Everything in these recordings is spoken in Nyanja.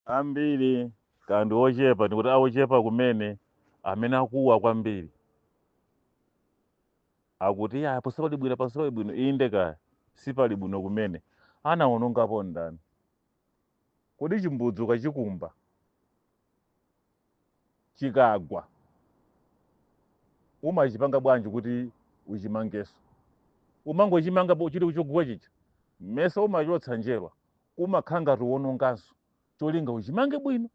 ambiri kapena ndi ochepa ndikuti aochepa kumene amene akuwa kwambiri akuti iyaa pano sipali bwino pano sipali bwino inde kaya sipali bwino kumene anawonongapo ndani kodi chimbudzi ukachikumba chikagwa umachipanga bwanji kuti uchimangenso umangochimanga po- chili chogwa chija mesa umachotsa njerwa umakhala ngati uwononganso cholinga uchimange bwino.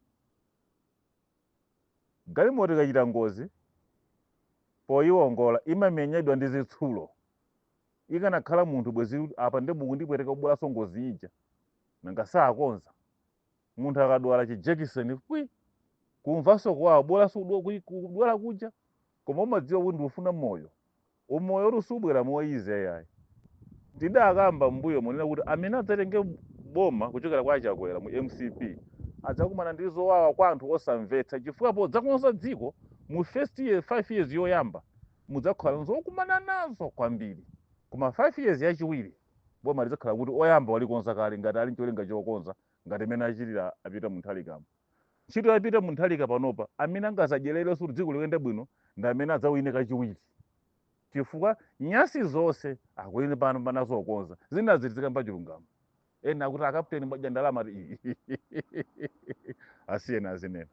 Galimoto ikachita ngozi, poyiwongola imamenyedwa ndi zitsulo. Ikanakhala munthu bwezi apa nde mukundipweteka kubweranso ngozi ija. Nanga sakonza? Munthu akadwala chi jekiseni pwi! Kumvanso kuwawa, kubweranso kudwala kuja koma umadziwa kuti ndikufuna moyo. Umoyotu subwera mo easy yayi. Tidakamba m'mbuyomu kunena kuti amene adzatenge boma kuchoka kwa a Chakwera mu mcp adzakumana ndi zowawa kwa anthu osamvetsa chifukwa podzakonza dziko mu first year, 5 years yoyamba mudzakhala nzokumana nazo kwambiri koma 5 years yachiwiri boma lidzakhala kuti oyamba walikonza kale ngati ali ncholinga chokonza ngati mmene achitira a Peter Mutharikamu. Ntchito ya Peter Mutharika panopa amene angazadyererenso kuti dziko liyende bwino ndi amene adzawine kachiwiri chifukwa nyasi zonse akuwina panopa nazokonza zina zichitika mwachilungamo ena akuti akaputeni mwadya ndalama asiyeni azinena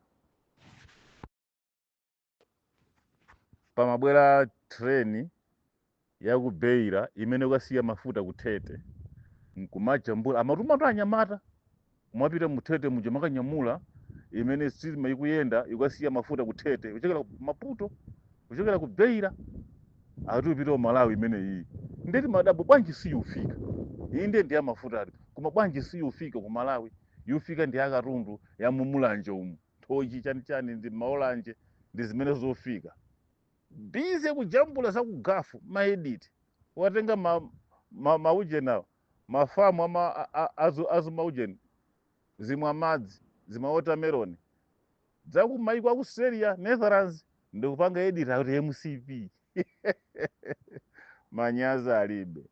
pamabwera train ya ku beira imene ikasiya mafuta ku tete nkumajambula amatumatu anyamata mwapita mu tete muja mukajambule imene sitima ikuyenda ikasiya mafuta ku tete kuchokera ku maputo kuchokera ku beira ati yupita ku malawi imene iyi nde timadabwa bwanji siyufika iyi ndiye ndi ya mafuta ati koma bwanji siyufika ku malawi yufika ndi akatundu ya mumulanje umu nthochi chani chani ndi maolanje ndi zimene zofika bize kujambula za ku gafu maediti watenga ma, ma, maujeni awo mafamu ama a- a- azu- azumaujeni zimwa madzi zima watermelon za ku maiko a ku Australia Netherlands ndikupanga editi ati mcp manyazi alibe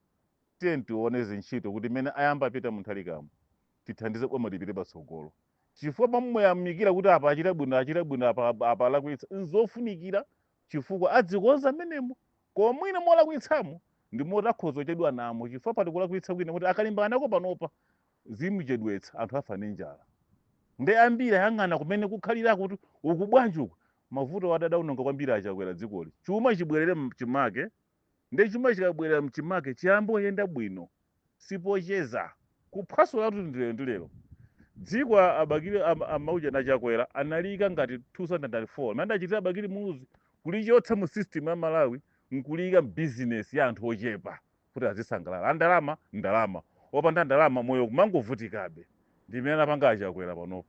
tiye tione zintchito kuti mene ayamba a peter mutharikamo tithandize boma lipite patsogolo chifukwa pomuyamikira kuti apa achita bwino achita bwino apa, apa, apa alakwitsa nzofunikira chifukwa adzikonza mmenemo koma mwina molakwitsamo ndi momwe akhoza kuchedwa namo chifukwa pali kulakwitsa kwina kuti akalimbana nako panopa zimuchedwetsa anthu afa ndi njala ndi ambiri ayang'ana kumene kukhalira kuti uku bwanji uku mavuto oti adaononga kwambiri achakwera dzikoli chuma chibwerere mchimake ndi chuma chikabwerera mchimake chiyamba kuyenda bwino sipocheza kuphwasulatu ndi lero ndi lero dziko a- abakili am- amaujeni achakwera analiyika ngati 2004 mmene adachitira abakili muluzi kulichotsa mu system ya malawi nkuliyika mbizinesi ya anthu ochepa kuti azisangalala andalama ndalama opanda ndalama moyo kumangovutikabe ndi mmene anapanga achakwera panopo